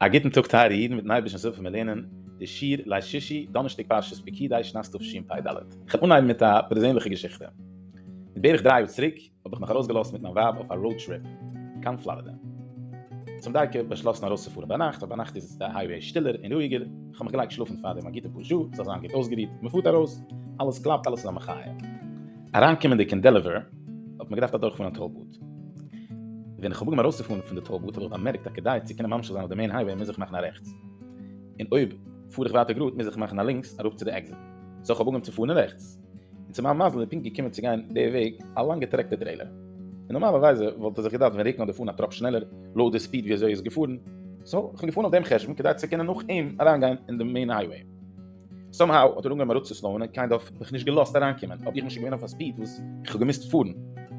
א גוטן טאג טייערע אידן מיטן הייבערשטנס הילף וועלן מיר לערנען די שיעור ליל שישי דאנערשטאג פרשת פקידי שנת תשפ ד, איך וועל אנהייבן מיט א פערזענליכע געשיכטע, מיט בערך דריי יאר צוריק האב איך מיך ארויסגעלאזט מיט מיין ווייב אויף א ראוד טריפ קיין פלארידע, צום דייקא באשלאסן ארויסצופארן ביינאכט ווייל ביינאכט איז די הייוועי שטילער און רואיגער, כ'האב מיך געלייגט שלאפן פארדעם א גוטע פאר שעה, זאל זיין גוט אויסגערוהט, מ'פארט ארויס, אלעס קלאפט, אלעס איז א מחיה. אריינקומענדיג אין דעלעוועיר האט מען געדארפט אדורכפארן א טאל בוט. ווען כ'האב אנגעהויבן ארויסצופארן פון די טאל בוט האב איך באמערקט אז כדי צו קענען ממשיך זיין אויף די מעין הייוועי מוז איך מאכן א רעכטס, און אויב פאר איך ווייטער גראד מוז איך מאכן א לינקס אראפ צו די עקזיט. סאו כ'האב אנגעהויבן צו פארן אין רעכטס. און צו מיין מזל איז ער פונקט געקומען צו גיין די וועג א לאנגע טרעקטער טרעילער, און נארמאלערווייזע וואלט ער זיך געדארפט ווען רוקן אדער פארן א טראפ שנעלער לויט די ספיד וויאזוי ער איז געפארן, סא איך בין געפארן אויף דעם חשבון כדי צו קענען נאך אים אריינגיין אין די מעין הייוועי. סאם האו האט ער אנגעהויבן אראפצוסלאוען און קיינד אף מיך נישט געלאזט אריינקומען, אבער איך בין שוין געווען אויף א ספיד וואס איך האב געמוזט פארן,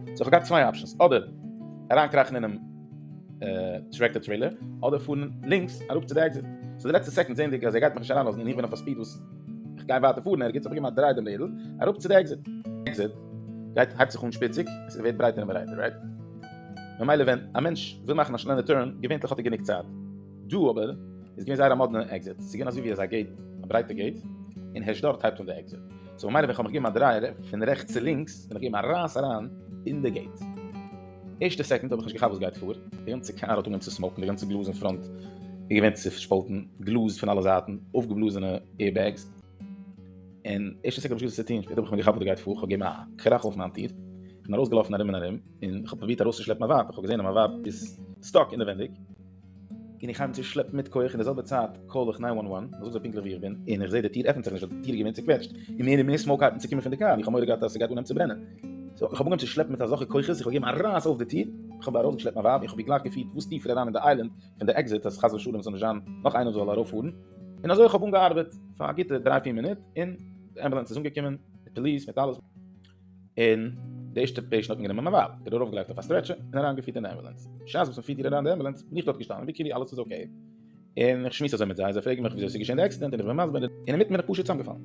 סא איך האב געהאט צוויי אפשענס, אדער אריינקראכן אינעם טרעקטער טרעילער, אדער פארן לינקס אראפ צו די עקזיט, סא די לעצטע סעקאנד זעענדיג אז ער גייט מיך נישט אריינלאזן און איך בין אויף א ספיד וואס. איך גיי ווייטער פארן, ערגעץ האב איך געגעבן א דריי דעם לעדל, אראפ צו די עקזיט. עקזיט גייט הייבט זיך אן שפיציג, עס ווערט ברייטער און ברייטער, רייט? ממילא ווען א מענטש וויל מאכן א שנעלע טורן, געווענטליך האט ער גענוג צייט. דא אבער איז געווען זייער א מאדנע עקזיט, ס'איז געווען אזוי ווי אזא געיט, א ברייטע געיט, און הערשט דארט הייבט אן די עקזיט. סאו ממילא ווען כ'האב מיך געגעבן א דריי פון רעכטס צו לינקס, בין איך געגעבן א רייס אריין אין די געיט. ערשטע סעקונד האב איך נישט געכאפט וואס גייט פאר, די גאנצע קאר האט אנגעהויבן צו סמאוקן, די גאנצע גלאז אין פראנט איז געווען צעשפאלטן, גלאז פון אלע זייטן, אויפגעבלאזענע עיר בעגס, און ערשטע סעקונד האב איך נישט געוואוסט וואס צו טון, שפעטער האב איך מיר געכאפט וואס גייט פאר, כ'האב געגעבן א קראך אויף מיין טיר, און ארויסגעלאפן ארום און ארום, און כ'האב פרובירט ארויסצושלעפן מיין ווייב, איך האב געזען אז מיין ווייב איז סטאק אינעווענדיג. און איך הייב אן צו שלעפן מיט כח, אין די זעלבע צייט קאל איך ניין וואן וואן, איך זאג זיי פונקטליך ווי איך בין, און איך זע די טיר עפנט זיך נישט, די טיר איז געווען צוקוועטשט, און מער און מער סמאוק הייבן צו קומען פון די קאר, און איך האב מורא געהאט אז ס'גייט אנהייבן צו ברענען. סאו איך האב אנגעהויבן צו שלעפן מיט אזעלכע כוחות, איך האב געגעבן א רייס אויף די טיר, איך האב ארויסגעשלעפט מיין ווייב, און איך האב איר גלייך געפירט וואס טיפער אריין אין די איילענד פון די עקזיט, אז חס ושלום ס'זאל נישט זיין נאך איינער וואס זאל ארויפפארן, און אזוי איך האב אנגעארבעט פאר א גוטע דריי פיר מינוט, און די אמבולאנס איז אנגעקומען, מיט פאליס, מיט אלעס. און די ערשטע פעישענט האט מען גענומען מיין ווייב, איר ארויפגעלייגט אויף א סטרעטשער און אריינגעפירט אין אמבולאנס, בשעת וואס מ'פירט איר אריין אין די אמבולאנס בין איך דארט געשטאנען ווי כאילו אלעס איז אקעי, און איך שמועס אזוי מיט זיי, זיי פרעגן מיך וויאזוי ס'איז געשען די עקסידענט און איך בין מסביר און אינמיטן בין איך פשוט צוזאמגעפאלן,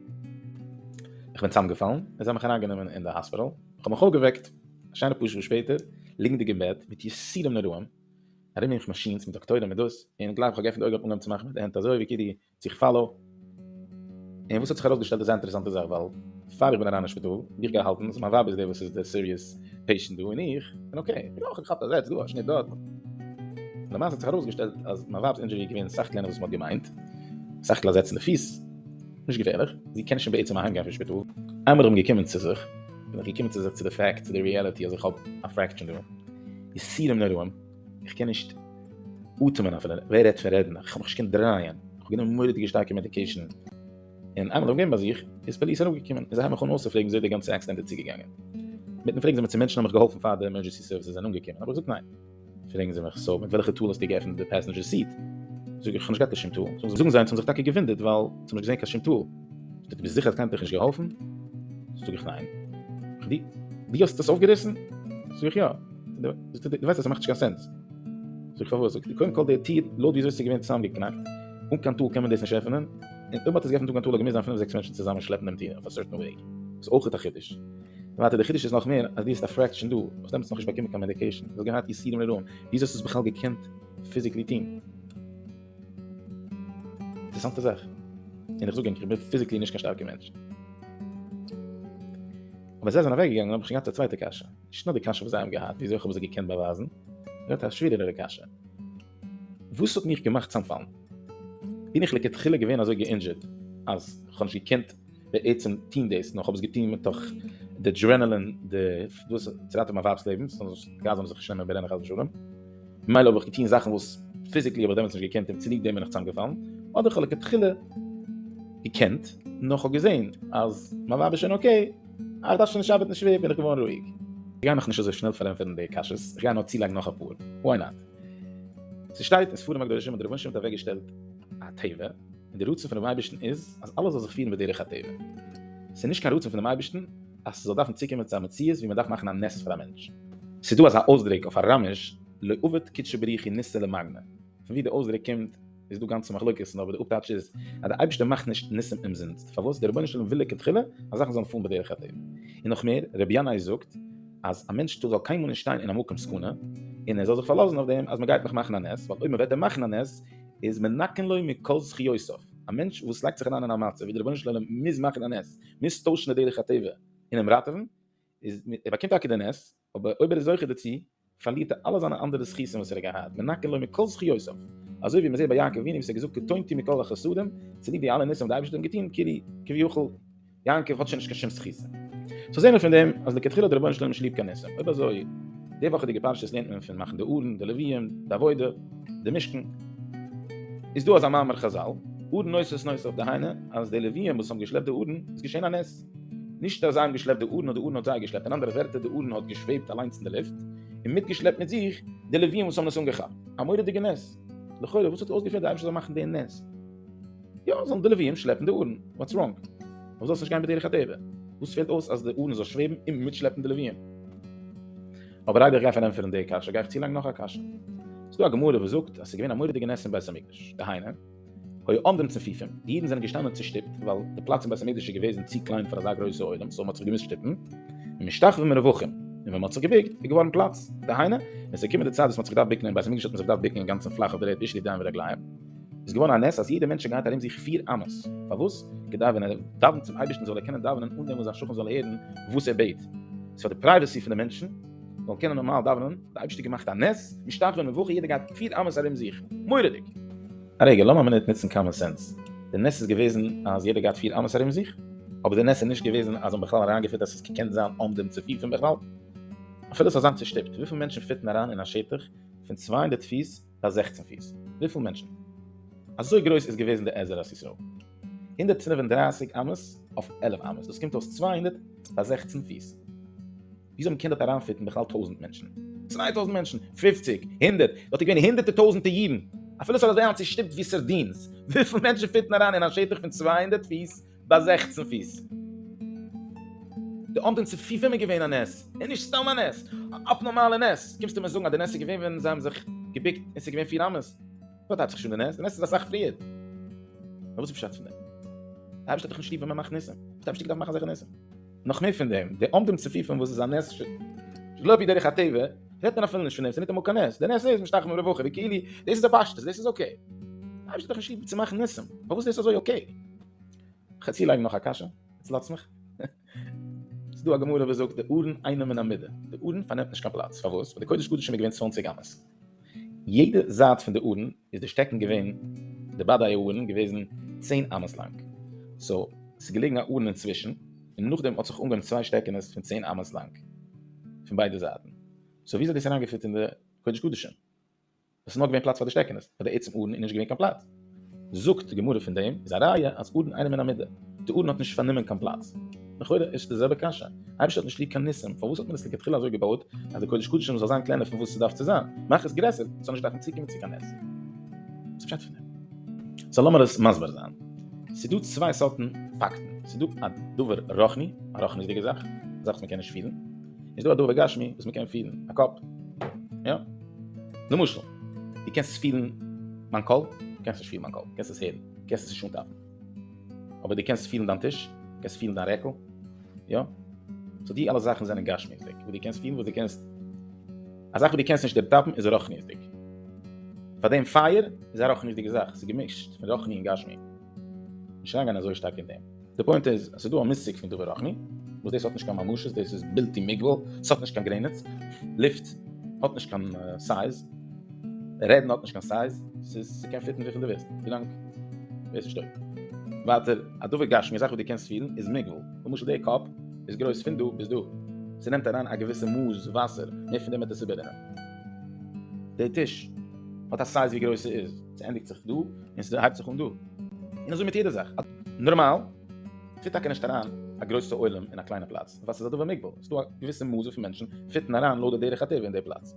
איך בין צוזאמגעפאלן און זיי האבן מיך אריינגענומען אין די האספיטאל, איך האב מיך אויפגעוועקט א שיינע פאר שעה שפעטער, ליגנדיג אין בעט מיט יסורים נוראים, ארום מיך מאשינס מיט דאקטוירים מיט דאס, און גלייך וואס איך האב געעפנט די אויגן האט אנגעהויבן צו מאכן מיט די הענט אזוי ווי כאילו צו כ'פאל אויף. און וואס האט זיך ארויסגעשטעלט איז זייער אינטערעסאנטע זאך ווייל פאר איך בין אריין אין שפיטאל ווי איך גיי האלטן אז מיין ווייב איז די וואס איז די סיריעס פעישענט דא און איך בין אקעי איך האב געכאפט א זעץ דא א שניט דארט למעשה האט זיך ארויסגעשטעלט אז מיין ווייב'ס אינדזשורי איז געווען סאך קלענער וואס מ'האט געמיינט סך הכל א זעץ אין די פיס נישט געפערליך זי קען שוין בעצם אהיימגיין פון שפיטאל איינמאל איך בין געקומען צו זיך בין איך געקומען צו זיך צו די פעקט צו די ריעליטי אז איך האב א פרעקטשען דא יסורים נוראים. איך קען נישט אטעמען אפילו, ווער רעדט פון רעדן, איך האב מיך נישט געקענט דרייען, איך האב גענומען מורא'דיגע שטארקע מעדיקעישן, און איינמאל איך האב געווען ביי זיך, איז פאליס אראפגעקומען, און זיי האבן מיך אן אויסער פרעגן ווי אזוי די גאנצע עקסידענט איז צוגעגאנגען, מיטן פרעגן זיי מיך צו מענטשן האבן מיך געהאלפן פאר די עמערדזשענסי סערוויסעס זענען אנגעקומען, האב איך געזאגט ניין, פרעגן זיי מיך סאו מיט וועלכע טול האסטו געעפנט די פעסענדזשער סיט, זאג איך איך האב נישט געהאט קיין שום טול, זאגן זיי זיי האבן זיך טאקע געוואונדערט ווייל זיי האבן נישט געזען קיין שום טול, זאגט ער דו ביסט זיכער אז קיינער האט דיך נישט געהאלפן? זאג איך ניין, זאגט ער דו האסט עס אויפגעריסן? זאג איך יא. דו ווייסט אז ס'מאכט נישט קיין סענס. זאג איך פארוואס? זאגט ער, קודם כל די טיר, לויט וויאזוי ס'איז געווען צוזאמגעקנאקט, אן קיין טול קען מען דאס נישט עפענען, און אויב מ'האט עס געעפנט אן קיין טול האט געמוזט זיין פינף זעקס מענטשן צוזאמען שלעפן דעם טיר אויף א סארטן וועג. ס'איז אויכעט א חידוש. און ווייטער די חידוש איז נאך מער אז דו האסט א פרעקשן דא, האסט דעמאלטס נאכנישט באקומען קיין מעדיקעישן, האסט געהאט יסורים לרעים, וויאזוי האסטו עס בכלל געקענט פיזיקלי טון? אינטערעסאנטע זאך. און איך זאג ענק, איך בין פיזיקלי נישט קיין שטארקע מענטש. אבער זיי זענען אוועקגעגאנגען האב איך שוין געהאט א צווייטע קשיא. נישט נאר די קשיא וואס זיי האבן געהאט, וויאזוי איך האב עס זיי געקענט באווייזן, נאר א שווערערע קשיא, וואס האט מיך געמאכט צאמפאלן? בין איך לכתחילה געווען אזוי גע'אינדזשערט אז איך האב נישט געקענט בעצם טון דאס, נאר איך האב עס געטון מתוך די דרענעלין, די דאס צו ראטעווען מיין ווייב'ס לעבן, ס'זאל גאר זיין אז איך שנעמען ברענען חס ושלום, ממילא האב איך געטון זאכן וואס פיזיקלי האב איך דעמאלטס נישט געקענט און צוליב דעם בין איך צאמגעפאלן, אדער איך האב לכתחילה געקענט, נאר איך האב געזען אז מיין ווייב איז שוין אקעי. אה, איך דארף שוין נישט ארבעטן שווער, בין איך געווארן רואיג. איך גיי מיך נישט אזוי שנעל פארענטפערן די קשיות, איך גיי נאר צולייגן נאך אפאר, וואי נאט? ס'שטייט אין ספרים הקדושים אז דער רבונו של עולם האט אוועקגעשטעלט א טבע, און דער רצון פונעם אייבערשטן איז אז אלעס זאל זיך פירן בדרך הטבע. ס'איז נישט קיין רצון פונעם אייבערשטן אז ס'זאל דארפן צוקומען צו א מציאות ווי מ'דארף מאכן א נס פאר א מענטש. ס'איז דא אזא אויסדרוק אויף אראמיש לא עבד קדשא בריחי ניסא למגנא, פון ווי די אויסדרוק קומט, איז דא גאנצע מחלוקת אבער די אפטייטש איז אז די אייבערשטער מאכט נישט ניסים אומזינסט פארוואס די רבונו של עולם וויל לכתחילה אז זאכן זאלן פארן בדרך הטבע און נאך מער רבי ינאי זאגט אז א מענטש זאל קיינמאל נישט שטיין אין א מקום סכנה און ער זאל זיך פארלאזן אויף דעם אז מען גייט נאך מאכן א נס ווייל אויב מען וועט אים מאכן א נס איז מנקן לו מכל זכיותיו א מענטש וואס לייגט זיך אריין אין א מצב ווי די רבונו של עולם מוז מאכן א נס מוז טוישן די דרך הטבע און אים ראטעווען איז ער באקומט טאקע די נס אבער אויב ער איז זוכה דערצו, פארלירט ער אלע זיינע אנדערע זכותים וואס ער האט געהאט, מנקה לו מכל זכויותיו, אזוי ווי מען זעט ביי יעקב אבינו וואס ער האט געזאגט קטונתי מכל החסדים, צוליב די אלע ניסים וואס די אייבערשטער האט אים געטון, כאילו כביכול יעקב האט שוין נישט קיין שום זכותים. סאו זעהן מיר פון דעם אז לכתחילה האט דער רבונו של עולם נישט ליב קיין ניסים, אויב אזוי, די וואכעדיגע פרשיות לערנט מען פון מאכן די ארון, די לוויים, די עבודה, די משכן, איז דא אזא מאמר חזל, ארון נושא את נושאיו, דהיינו אז די לוויים וואס האבן געשלעפט די ארון איז געשען א נס. נישט אז זיי האבן געשלעפט די ארון, נאר די ארון האט זיי געשלעפט, אין אנדערע ווערטער די ארון האט געשוועבט אליינס אין די לופט, און מיטגעשלעפט מיט זיך די לוויים וואס האבן עס אנגעכאפט. א מורא'דיגע נס! לכאורה וואס האט אויסגעפירט די אייבערשטער זאל מאכן די נס? יא, זאלן די לוויים שלעפן די ארון, וואטס ראנג? פארוואס זאל עס נישט גיין בדרך הטבע? וואס פעלט אויס אז די ארון זאל שוועבן און מיטשלעפן די לוויים? אבער איידער איך גיי פארענטפערן די קשיא, גיי איך צולייגן נאך א קשיא. ס'איז דא א גמרא וואס זאגט אז ס'איז געווען א מורא'דיגע נס אין בית המקדש, דהיינו, היו עומדים צפופים, די אידן זענען געשטאנען צושטופט, ווייל די פלאץ אין בית המקדש איז געוועזן צו קליין פאר אזא גרויסע עולם, סאו מען האט זיך געמוזט שטופן, ומשתחווים מרווחים, און ווען מען האט זיך געבוקט איז געווארן פלאץ, דהיינו, ווען עס איז געקומען די צייט וואס מען האט זיך געדארפט בוקן אין בית המקדש האט מען זיך געדארפט בוקן אינגאנצן פלאך אויף די ערד בשלב ידיים ורגליים, איז געווארן א נס אז יעדער מענטשען גייט ארום זיך פיר אמות, פארוואס? כדי ווען ער דאווענט צום אייבערשטן זאל ער קענען דאווענען אן דעם וואס זיין שכן זאל הערן וואס ער בעט, ס'איז פאר די פרייוועסי פון די מענטשן. זאל קענען נארמאל דאווענען, די אייבערשטער געמאכט א נס, משתחווה און מבוכה, יעדער גייט פיל אמת ארום זיך, מורא'דיג! א רגע, לאמיר א מינוט נוצן קאמאן סענס, די נס איז געוועזן אז יעדער גייט פיל אמת ארום זיך, אבער די נס איז נישט געוועזן אז זיי האבן בכלל אריינגעפירט אז עס האט געקענט זיין אן דעם צופיל פון בכלל, אפילו ס'זאל זיין צושטופט, וויפיל מענטשן פיטן אריין אין א שטח פון צוויי הונדערט פיס ביי זעכצן פיס? וויפיל מענטשן? אזוי גרויס איז געוועזן די עזר ארץ ישראל? הונדערט פֿינף און דרײַסיק אמות אויף עלף אמות, דאס קומט אויס צוויי הונדערט ביי זעכצן פיס. ווי זאל מען קענען דארט אריינפיטן בכלל טויזנט מענטשן? צוויי טויזנט מענטשן? פופציג? הונדערט? דארט איז געווען הונדערטער טויזנטער אידן! אפילו ס'האט אזוי היינט צושטופט ווי סארדינס! וויפיל מענטשן פיט מען אריין אין א שטח פון צוויי הונדערט פיס ביי זעכצן פיס? די אמתן צופיפים איז געווען א נס! און נישט סתם א נס! א אפנארמאלע נס! קומסטו מיר זאגן אז די נס איז געווען ווען זיי האבן זיך געבוקט און ס'איז געווען פיר אמות? דארט הייבט זיך שוין די נס! די נס איז אסאך פריער! נאר וואס איז פשט פון דעם? די אייבערשטער האט דאך נישט ליב ווען מ'מאכט ניסים? וואס האט די אייבערשטער געדארפט מאכן אזעלכע ניסים? נאך מער פון דעם, די עומדים צפופים וואס איז א נס ש ל אפי' דרך הטבע, רעדט מען אפילו נישט פון דעם, ס'איז ניטאמאל קיין נס, די נס איז משתחווים און רווחים, ווי כאילו דאס איז א פשטות, דאס איז אקעי. די אייבערשטער האט דאך נישט ליב צו מאכן ניסים, פארוואס איז דאס אזוי אקעי? כ'וועל צולייגן נאך א קשיא, עטס לאזטס מיך? ס'איז דא א גמרא וואס זאגט די ארון אינם מן המידה, די ארון פארנעמט נישט קיין פלאץ, פארוואס? ווייל די קודש קדשים איז געווען צוואנציג אמות. יעדע זייט פון די ארון איז די שטעקן געווען די באדייע ארון געוועזן צען אמות לאנג סאו ס'איז געלעגן א ארון אינצווישן און נאכדעם האט זיך אנגעהויבן צוויי שטעקענעס פון צען אמות לאנג פון ביידע זייטן סאו וויאזוי האט דאס אריינגעפיט אין די קודש קדשים וואס איז נאר געווען פלאץ פאר די שטעקענעס פאר די עצם ארון איז נישט געווען קיין פלאץ. זאגט די גמרא פון דעם איז א ראיה אז ארון אינעם אין א מידה, די ארון האט נישט פארנומען קיין פלאץ, לכאורה איז די זעלבע קשיא, אייבערשטער האט נישט ליב קיין ניסים, פארוואס האט מען עס לכתחילה אזוי געבויט אז די קודש קדשים זאל זיין קלענער פון וואס עס דארף צו זיין, מאך עס גרעסער עס זאל נישט דארפן צוקומען צו קיין נס. וואס איז פשט פון דעם? סא לאמיר עס מסביר זיין, ס'איז דא צוויי סארטן פאקטן, ס'איז דא א דבר רוחני, א רוחניות'דיגע זאך, א זאך וואס מען קען נישט פילן, און ס'איז דא א דבר גשמי וואס מען קען פילן, א קאפ, יא? למשל. דו קענסט עס פילן מיין קול? דו קענסט נישט פילן מיין קול, דו קענסט עס הערן, דו קענסט עס נישט אנטאפן. אבער דו קענסט פילן דיין טיש, דו קענסט פילן דיין רעקל, יא? סאו די אלע זאכן זענען גשמיות'דיג, וואס דו קענסט פילן, וואס דו קענסט. א זאך וואס דו קענסט נישט דערטאפן איז רוחניות'דיג. פאר דעם פייער איז א רוחניות'דיגע זאך, ס'איז געמישט פון רוחני און גשמי. נישט אריינגיין אזוי שטארק אין דעם. די פוינט איז אז ס'איז דא א מושג פון דבר רוחני וואס דאס האט נישט קיין ממשות דאס איז בלתי מוגבל עס האט נישט קיין גרעניץ לופט האט נישט קיין סייז רעדן האט נישט קיין סייז ס'איז ס'קען פיטן וויפיל דו ווילסט ווילאנג דאס איז שטויב ווייטער א דבר גשמי א זאך וואס דו קענסט פילן איז מוגבל למשל די קאפ איז גרויס פון דא ביז דא ס'נעמט אריין א געוויסע מאס וואסער מער פון דעם וועט עס איבעררינען די טיש האט א סייז ווי גרויס ס'איז ס'ענדיגט זיך דא און ס'הייבט זיך אן דא. און אזוי מיט יעדע זאך. נארמאל פיט טאקע נישט אריין א גרויסע עולם אין א קליינע פלאץ, ווייל ס'איז א דבר מוגבל. ס'איז דא א געוויסע מאס וויפיל מענטשן פיטן אריין לויט די דרך הטבע אין די פלאץ.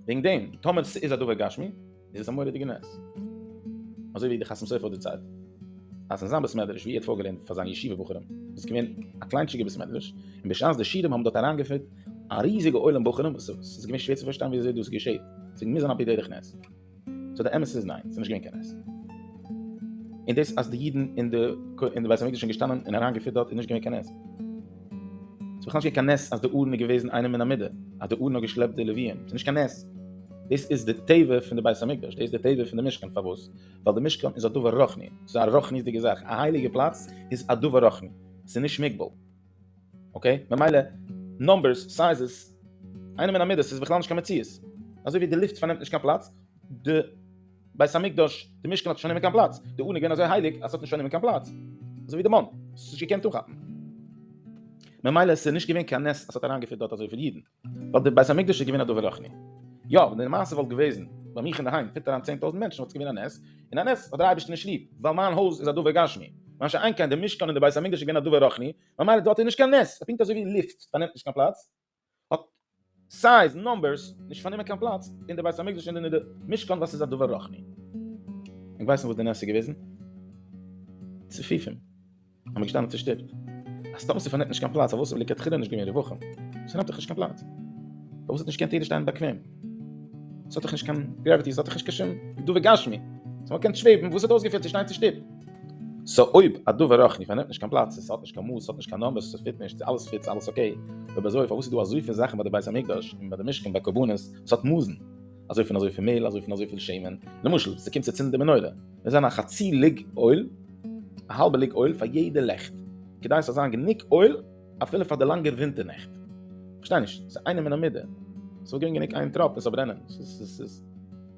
וועגן דעם, טאמער ס'איז א דבר גשמי, איז עס א מורא'דיגע נס. אזוי ווי די חתם סופר האט דערציילט, אז אין זיין בית מדרש וואו ער האט פארגעלערנט פאר זיינע ישיבה בחורים, איז געווען א קליינטשיגע בית מדרש, און בשעת די שיעורים האבן דארט אריינגעפיט, א ריזיגע עולם בוחרים וואס ס'איז געווען שווער צו פארשטיין וויאזוי דאס געשעהט, ס'איז געווען מוזן על פי דרך נס. סאו די אמת איז ניין, ס'איז נישט געווען קיין נס. און דאס אז די אידן אין די אין די בית המקדש זענען געשטאנען און אריינגעפירט דארט איז נישט געווען קיין נס. ס'איז בכלל נישט געווען קיין נס אז די ארון איז געוועזן איינער מן המדה, אז די ארון האט געשלעפט די לוויים, ס'איז נישט קיין נס. דאס איז די טבע פון די בית המקדש, דאס איז די טבע פון די משכן, פארוואס? ווייל די משכן איז א דבר רוחני, ס'איז א רוחניות'דיגע זאך, א הייליגע פלאץ איז א דבר רוחני, ס'איז נישט מוגבל. אקעי, ממילא נומבערס, סייזעס, איינעם אין א מידה, ס'איז בכלל נישט קיין מציאות. אזוי ווי די לופט פארנעמט נישט קיין פלאץ, די בית המקדש, די משכן האט נישט פארנומען קיין פלאץ, די ארון איז געווען אזוי הייליג אז ס'האט נישט פארנומען קיין פלאץ, אזוי ווי די מאן, ס'האט זיך נישט געקענט אנכאפן. ממילא ס'איז נישט געווען קיין נס אז ס'האט אריינגעפירט דארט אזויפיל אידן. ווייל די בית המקדש איז געווען א דבר רוחני. יא, ווען די מעשה וואלט געוועזן ביי מיך אינדערהיים פיט אריין צען טויזנט מענטשן וואלט עס געווען א נס, און א נס האט דער אייבערשטער נישט ליב, ווייל מיין הויז איז א דבר גשמי. מה שאין כן די משכן און די בית המקדש איז געווען א דבר רוחני, ממילא דארט איז נישט קיין נס, ס'איז פונקט אזוי ווי לופט פארנעמט נישט קיין פלאץ, האט סייז, נומבערס, נישט פארנומען קיין פלאץ אין די בית המקדש און אין די משכן וואס איז א דבר רוחני. אונז ווייסן וואס די נס איז געוועזן? צופופים. האב מיר געשטאנען צושטופט. אז סתם ס'פארנעמט נישט קיין פלאץ פארוואס האב איך לכתחילה נישט געווען רווחים? ס'נעמט דאך נישט קיין פלאץ. פארוואס האט נישט געקענט יעדער שטיין באקוועם? ס'האט דאך נישט קיין גרעוויטי, ס'האט דאך נישט קיין שום גדוה גשמי. ס'האט נאר געקענט שוועבן, וואס האט אויסגעפעלט צו שטיין צושטופט? סאו אויב א דבר רוחני פארנעמט נישט קיין פלאץ, ס'האט נישט קיין מאס, ס'האט נישט קיין נאמבערס, ס'פיט נישט, ס'אלעס פיט, ס'אלעס אקעי, אויב אזוי פארוואס איז דא אזויפיל זאכן ביי די בית המקדש און ביי די משכן ביי קרבנות וואס האט מאסן? אזוי פון אזויפיל מעל, אזוי פון אזויפיל שמן, למשל, ס'קומט צו צינדן די מנורה, מוז זיין א חצי ליג אויל, א האלבע ליג אויל פאר יעדע לעכט, כדי עס זאל זיין גענוג אויל אפילו פאר די לאנגע ווינטער נעכט. כ'פארשטיי נישט, ס'איז איינער מן המדע? ס'זאל געבן גענוג איין טראפ און ס'זאל ברענען?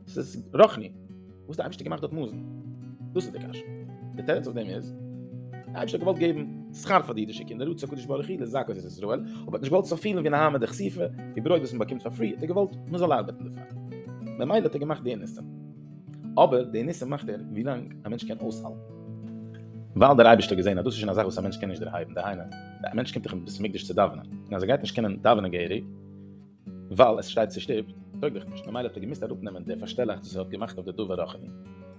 ס'איז רוחני. וואס די אייבערשטער געמאכט דארט מוזן? דאס איז די קשיא. די תירוץ אויף דעם איז, די אייבערשטער געוואלט געבן שכר פאר די אידישע קינדער, רצה הקדוש ברוך הוא לזכות את ישראל, אבער האט נישט געוואלט ס'זאל פילן ווי נהמא דכסיפא, ווי ברויט וואס מען באקומט פאר פרי, האט ער געוואלט מען זאל ארבעטן דערפאר. ממילא האט ער געמאכט די ניסים. אבער די ניסים מאכט ער ווי לאנג א מענטש קען אויסהאלטן. ווייל דער אייבערשטער האט געזען אז דאס איז שוין א זאך וואס א מענטש קען נישט דערהייבן, דהיינו, א מענטש קומט דאך אין בית המקדש צו דאווענען, און אז ער גייט נישט קענען דאווענען געהעריג, ווייל עס שטייט צושטופט, טויג דאך נישט, ממילא האט ער געמוזט אראפנעמען די פארשטעלאכץ וואס ער האט געמאכט אויף די דבר רחמים,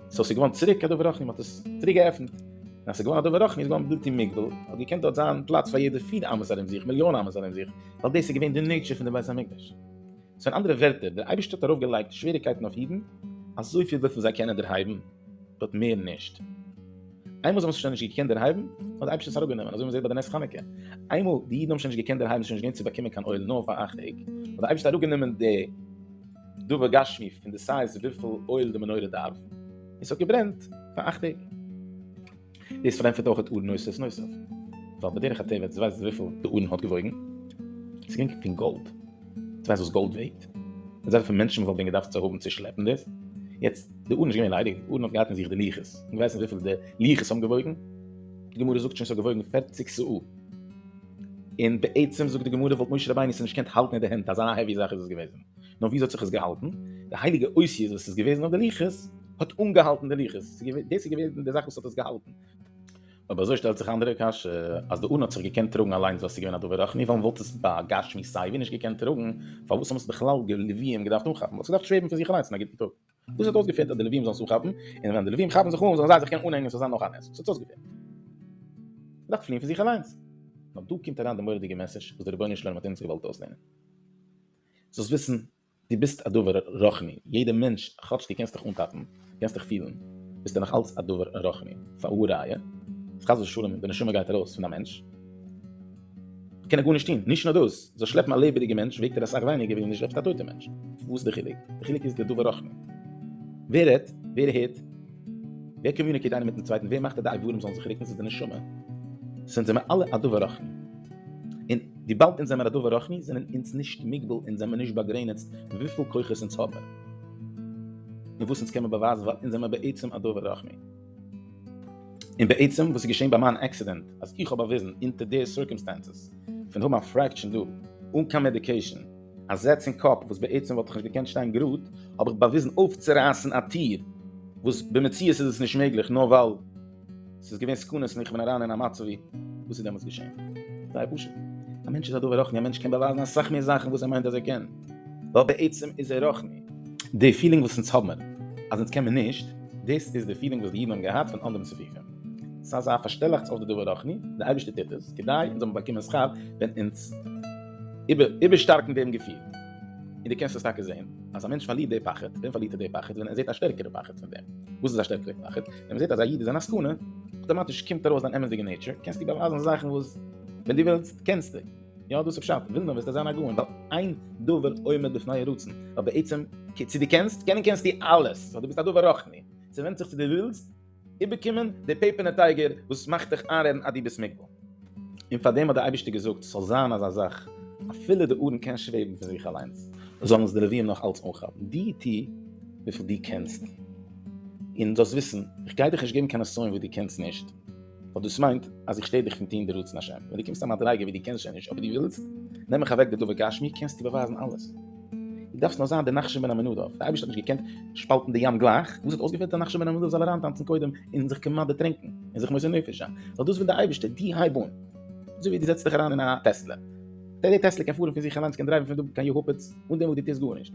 סאו עס איז געווארן צוריק א דבר רחמים, מען האט עס צוריק געעפנט, און אז עס איז געווארן א דבר רחמים איז געווארן בלתי מוגבל, האט געקענט דארט זיין פלאץ פאר יעדע פיר אמות ארום זיך, מיליאן אמות ארום זיך, ווייל דאס איז געווען די נעיטשער פון די בית המקדש. סאו אין אנדערע ווערטער, דער אייבערשטער האט ארויף געלייגט שוועריקייטן אויף אידן, אזויפיל וויפיל זיי קענען דערהייבן, באט מער נישט. איינמאל זיי האבן זיך שוין נישט געקענט דערהייבן, האט דער אייבערשטער עס אראפגענומען, אזוי ווי מען זעט ביי די נס חנוכה. איינמאל די אידן האבן שוין נישט געקענט דערהייבן, ס'איז שוין נישט געווען צו באקומען קיין אויל נאר פאר אכט טעג, האט דער אייבערשטער אראפגענומען די דבר גשמי פון די סייז וויפיל אויל די מנורה דארף, און ס'האט געברענט פאר אכט טעג. דאס פארענטפערט אויך אור נוסף נוסף, ווייל בדרך הטבע, דו ווייסט וויפיל די ארון האט געוואויגן? ס'איז געווען פון גאלד. דו ווייסט וואס גאלד וועגט? מיט אזויפיל מענטשן וואס האבן ווען געדארפט צו האבן צו שלעפן דאס, יעצט די ארון איז נישט געווען ליידיג, די ארון האט געהאט אין זיך די לוחות, און דו ווייסט נישט וויפיל די לוחות האבן געוואויגן? די גמרא זאגט שוין ס'האט געוואויגן פערציג סאה, און בעצם זאגט די גמרא וואלט משה רבינו עס נישט געקענט האלטן אין די הענט, אזא העווי זאך איז עס געוועזן, נאר וויאזוי האט זיך עס געהאלטן? די הייליגע אותיות וואס איז געוועזן אויף די לוחות האט אנגעהאלטן די לוחות, דאס איז געוועזן די זאך וואס האט עס געהאלטן. אויב אזוי שטעלט זיך א אנדערע קשיא, אז די ארון האט זיך געקענט טראגן אליינס וואלט עס געווען א דבר רוחני, ווען וואלט עס בה גשמי סייווי נישט געקענט טראגן, פארוואס האבן עס בכלל די לוויים געדארפט אנכאפן? וואלט עס געדארפט שוועבן פון זיך אליינס אין א גוטן טאג? וואס האט אויסגעפעלט אז די לוויים זאלן עס אנכאפן, און ווען די לוויים כאפן זיך אן זאלן זיי זיך קענען אנהענגען ס'זאל זיין נאך א נס? וואס האט אויסגעפעלט? געדארפט פליען פון זיך אליינס? נאר דא קומט אריין די מורא'דיגע מעסעזש וואס דער רבונו של עולם האט אונז געוואלט אויסלערנען. זאלסט וויסן דו ביסט א דבר רוחני, יעדע מענטש, כאטש דו קענסט דיך אנטאפן, קענסט דיך פילן, ביסטו נאך אלץ א דבר רוחני, פאר וואו ראיה, אז חס ושלום די נשמה גייט ארויס פון א מענטש, קען ער גארנישט טון, נישט נאר דאס, זאל שלעפן א לעבעדיגע מענטש וועגט ער אסאך ווייניגער ווי ווען דו שלעפסט א טויטע מענטש, וואס איז די חילוק? די חילוק איז די דבר רוחני, ווער רעדט? ווער הערט? ווער קאמיוניקעיט איינער מיטן צווייטן? ווער מאכט אז די איברים זאלן זיך רוקן? ס'איז די נשמה. ס'אונז זעמער אלע א דבר רוחני. און וויבאלד אונז זעמער א דבר רוחני זענען אונז נישט מוגבל אונז זעמער נישט באגרעניצט וויפיל כוחות אונז האבן און וואס אונז קעמער באווייזן ווייל אונז זעמער בעצם א דבר רוחני. און בעצם וואס איז געשען ביי מיין עקסידענט אז איך האב באוויזן אונטער די סירקעמסטענסעס פון האבן א פרעקשען דא אן קיין מעדיקעישאן, א זעץ אין קאפ וואס בעצם וואלט איך נישט געקענט שטיין גראד, האב איך באוויזן אויפצורייסן א טיר, וואס במציאות איז עס נישט מעגליך נאר ווייל ס'איז געווען סכנות און איך בין אריין אין א מצב ווי וואס איז דעמאלטס געשען? זייער פשוט. א מענטש איז א דבר רוחני, א מענטש קען באווייזן אסאך מער זאכן וואס ער מיינט אז ער קען, ווייל בעצם איז ער רוחני. די פילינג וואס אונז האבן אז אונז קען מען נישט, דאס איז די פילינג וואס די אידן האבן געהאט פון אנדעם ספיחים. ס'איז אזא פארשטעלאכטס אויף די דבר רוחני, די אייבערשטער טוט עס כדי אונז זאלן באקומען שכר ווען אונז. איבערשטארקן דעם געפיל. און דו קענסט עס טאקע זען אז א מענטש פארלירט די פחד, ווען פארלירט ער די פחד? ווען ער זעט א שטערקערע פחד פון דעם. וואס איז א שטערקערע פחד? ווען מ'זעט אז א איד איז אין א סכנה, אויטאמאטיש קומט ארויס דיין אמת'דיגע נעיטשער, קענסטו באווייזן זאכן וואס ווען דו ווילסט קענסטו. יא דאס איז פשט, וויל מען וועסטו זיין א גאון, ווייל אין דבר עומד בפני הרצון, ווייל בעצם צו דו קענסט, קענען קענסטו אלעס, סאו דו ביסט א דבר רוחני, ס'ווענדט זיך צו דו ווילסט, איבערקומען די פעפערנע טייגער וואס מאכט דיך איינרעדן אז דו ביסט מוגבל. און פאר דעם האט דער אייבערשטער געזאגט ס'זאל זיין אזא זאך, אפילו די ארון קען שוועבן פון זיך אליינס, זאלן עס די לווים נאך אלץ אנכאפן. דו טו וויפיל דו קענסט, און זאלסט וויסן, איך גיי דיך נישט געבן קיין נסיון וואס דו קענסט נישט, ווייל דאס מיינט אז איך שטער דיך פון טון די רצון השם. ווען דו קומסט א מדריגה וואס דו קענסט שוין נישט אבער דו ווילסט, נעם איך אוועק די דבר גשמי, קענסטו באווייזן אלעס. דו דארפסט נאר זיין דער נחשון בן עמינדב. דער אייבערשטער האט נישט געקענט שפאלטן די ים גלייך, וואס האט אויסגעפעלט דער נחשון בן עמינדב זאל אריינטאנצן קודם און זיך כמעט דערטרינקען און זיך מוסר נפש זיין, ווייל דאס וויל דער אייבערשטער, דו הייב אן, אזוי ווי דו זעצט דיך אריין אין א טעסלע, דער טעסלע קען פארן פון זיך אליינס, קען דרייוון פון דא קיין יעהופעץ אן דעם וואס דו טוסט גארנישט,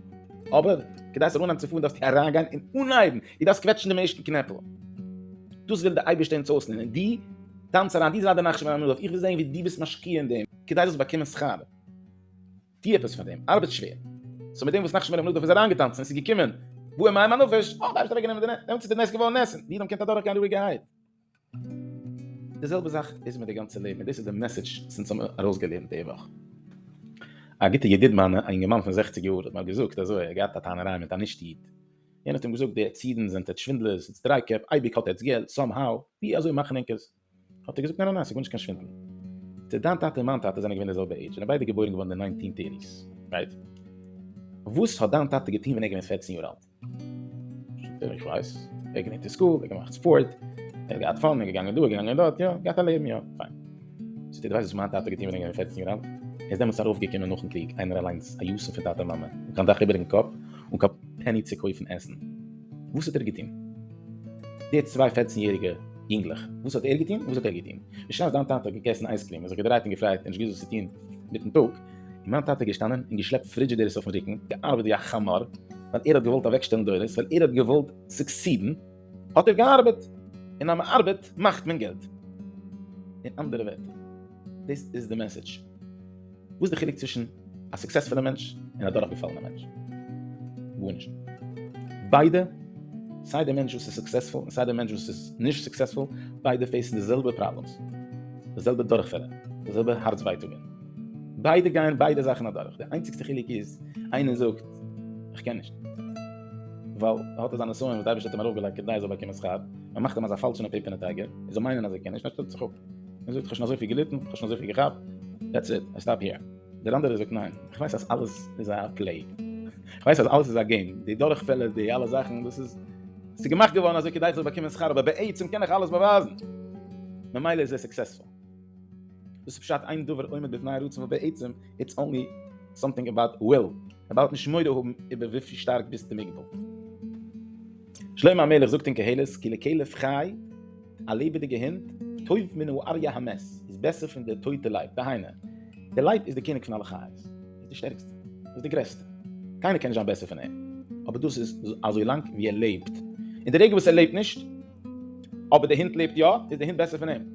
אבער כדי ס'זאל אנהייבן צו פארן דארפסטו אריינגיין און אנהייבן, דו דארפסט קוועטשן דעם ערשטן קנעפל, דאס וויל דער אייבערשטער אונז אויסלערנען, דו טאנץ אריין, דו זיי דער נחשון בן עמינדב, איך וויל זען ווי דו ביסט משקיע אין דעם, כדי זאלסט באקומען שכר. טו עפעס פאר דעם, ארבעט שווער. סאו מיט דעם וואס נחשון בן עמינדב איז אריינגעטאנצן און ס'איז געקומען באה מים הנפש, האט די אייבערשטער אוועקגענומען די נס, דעמאלטס איז די נס געווארן נס און די אידן קענט אדורכגיין רואיגערהייט. די זעלבע זאך איז מיט די גאנצע לעבן און דאס איז די מעסעדזש וואס אונז האבן ארויסגעלערנט די וואך. א גוטע ידיד מיינע, א יונגערמאן פון זעכציג יאר, האט מיר געזאגט אזוי, ער האט געהאט א טענה'ריי מיט א נישט איד, יענער האט אים געזאגט די עטץ אידן זענט עטץ שווינדלערס, עטץ דרייקעפ, אייביג האט עטץ געלט, סאם האו, ווי אזוי מאכן ענק עס? האט ער געזאגט ניין ניין ניין ס'איז גארנישט קיין שווינדל. טא דיין טאטע און מיין טאטע זענען געווען די זעלבע עידזש, זענען ביידע געבוירן געווארן אין די ניינטין טערטיס, רייט? וואס האט דיין טאטע געטון ווען ער איז געווען פֿערצן יאר אלט? זאגט ער איך ווייס, ער האט געלערנט אין סקול, ער האט געמאכט ספארט, ער האט געהאט פאן, ער איז געגאנגען דא, ער איז געגאנגען דארט, יא, געהאט א לעבן, יא, פיין. זאגט ער דו ווייסט וואס מיין טאטע האט געטון ווען ער איז געווען פֿערצן יאר אלט? ער איז דעמאלטס ארויפגעקומען נאכן קריג איינער אליינס א יתום פון טאטע און מאמע, אן קיין דאך איבערן קאפ, אן קיין פעני צו קויפן עסן, וואס האט ער געטון? די צוויי פערצן יעריגע יונגלעך, וואס האט ער געטון? וואס האט ער געטון? בשעת דיין טאטע האט געגעסן אייזקריעם און זיך געדרייט און געפרייט און נישט געוואוסט וואס צו טון מיטן טאג, איז מיין טאטע געשטאנען און געשלעפט פרידזשידערס אויפן רוקן, געארבעט ווי א חמור, ווייל ער האט געוואלט אוועקשטעלן דורות, ווייל ער האט געוואלט סוקסידן, האט ער געארבעט, און אז מ'ארבעט מאכט מען געלט. אין אנדערע ווערטער, דאס איז די מעסעדזש. וואס איז די חילוק צווישן א סוקסעספולע מענטש און א דורכגעפאלענע מענטש? גארנישט. ביידע, סיי די מענטש וואס איז סוקסעספול און סיי די מענטש וואס איז נישט סוקסעספול, ביידע פעיסן די זעלבע פראבלעמס, די זעלבע דורכפעלער, די זעלבע הארץ ווייטאגען. ביידע גייען ביידע זאכן אדורך, די איינציגסטע חילוק איז איינער זאגט איך קען נישט ווייל ער האט אזא נסיון וואס די אייבערשטער האט אים ארויפגעלייגט כדי ער זאל באקומען שכר, מען מאכט אים אזא פאלשענע פעיפערנע טייגער, ער זאל מיינען אז ער קען נישט, און ער שטעלט זיך אפ. ער זאגט איך האב שוין אזויפיל געליטן, איך האב שוין אזויפיל געכאפט, דעטס איט, איי סטאפ היער. דער אנדערער זאגט ניין, איך ווייס אז אלעס איז א פלעי, איך ווייס אז אלעס איז א געים, די דורכפעלער, די אלע זאכן, דאס איז ס'איז געמאכט געווארן אזוי כדי איך זאל באקומען שכר, אבער בעצם קען איך אלעס באווייזן, ממילא איז ער סוקסעספול. דאס איז פשט אין דבר עומד בפני הרצון, וואס בעצם איטס אנלי סאמטינג אבאוט וויל, ער בארט נישט מורא האבן איבער וויפיל שטארק ביסטו מוגבל. שלמה המלך זאגט אין קהלת כי לכלב חי, א לעבעדיגע הונט, טוב מן האריה המת, איז בעסער פון דער טויטע לייב, דהיינו, דער לייב איז דער קעניג פון אלע חיות, איז דער שטערקסטער, איז דער גרעסטער, קיינער קען נישט זיין בעסער פון אים, אבער דאס איז אזוי לאנג ווי ער לעבט, אין די רגע וואס ער לעבט נישט, אבער דער הונט לעבט יא, איז דער הונט בעסער פון אים.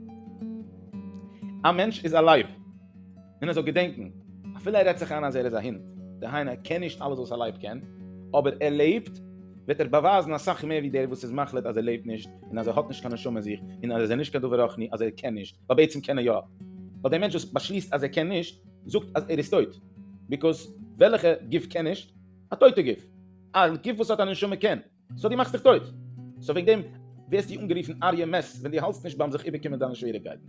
א מענטש איז א לייב. און ער זאל געדענקן, אפילו ער רעדט זיך איין אז ער איז א הונט, דהיינו ער קען נישט אלעס וואס א לייב קען, אבער ער לעבט, וועט ער באווייזן אסאך מער ווי דער וואס איז מחליט אז ער לעבט נישט, און אז ער האט נישט קיין נשמה אין זיך, און אז ער איז נישט קיין דבר רוחני, אז ער קען נישט, ווייל בעצם קען ער יא. ווייל דער מענטש וואס באשליסט אז ער קען נישט, זאגט אז ער איז טויט. ביקאוז וועלכע גוף קען נישט? א טויטע גוף. א גוף וואס האט א נשמה קען. סאו די מאכסט דיך טויט, סאו וועגן דעם ווערסטו אנגערופן אריה מעס ווען די האלסט נישט ביים זיך איבערקומען דיינע שוועריגקייטן,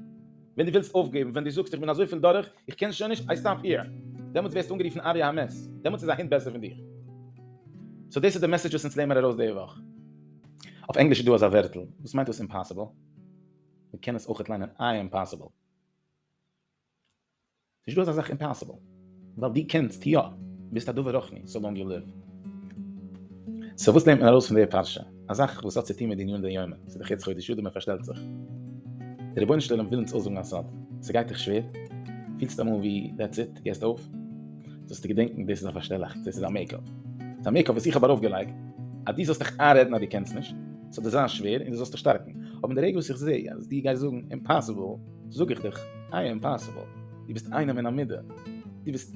ווען די ווילסט אויפגעבן, ווען די זאגסט איך בין אזויפיל דורך איך קען שוין נישט, איי סטאפ היער, דעמאלטס ווערסטו אנגערופן אריה המעס, דעמאלטס איז א הונט בעסער פון דיר. סאו דאס איז די מעסעדזש וואס אונז לערנמער ארויס די וואך. אויף ענגליש איז דא אזא ווערטל וואס מיינט דאס אימפאסיבל, מ'קען עס אויכעט ליינען איי אימפאסיבל. נישט דא אזא זאך אימפאסיבל, ווייל דו קענסט יא, ביסט א דבר רוחני, סאו לאנג יו ליוו. סאו וואס לערנט מען ארויס פון די פרשה? א זאך וואס האט צו טון מיט די ענין דיומא, ס'איז דאך יעצט חודש אדר מען פארשטעלט זיך, די רבונו של עולם וויל אונז אויסזאגן א סוד, ס'גייט דיך שווער? פילסט אמאל ווי דעטס איט, דו געסט אויף? זאלסטו געדענקן דאס איז א פארשטעלאכץ, דאס איז א מעיק אפ, ס'איז א מעיק אפ וואס איך האב ארויף געלייגט אז דו זאלסט דיך איינרעדן אז דו קענסט נישט, סאו דאס זיין שווער און דאס זאלסטו שטארקן, אבער אין די רגע וואס איך זעה אז דו גייסט זאגן אימפאסיבל, זאג איך דיך, איי עם פאסיבל, דו ביסט איינעם אין א מידה, דו ביסט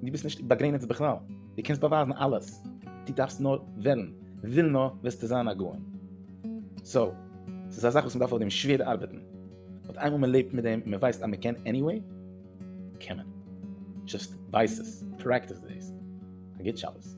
דו ביסט נישט באגרעניצט בכלל, דו קענסט באווייזן אלעס, דו דארפסט נאר וועלן, וויל נאר וועסטו זיין א גאון. סאו, ס'איז א זאך וואס מ'דארף אויף דעם שווער ארבעטן, באט איינמאל מ'לעבט מיט דעם און מ'ווייסט אז מ'קען עניוועי, קען מען. זשאסט ווייס עס, פרעקטיס דעיס. א גוט שבת.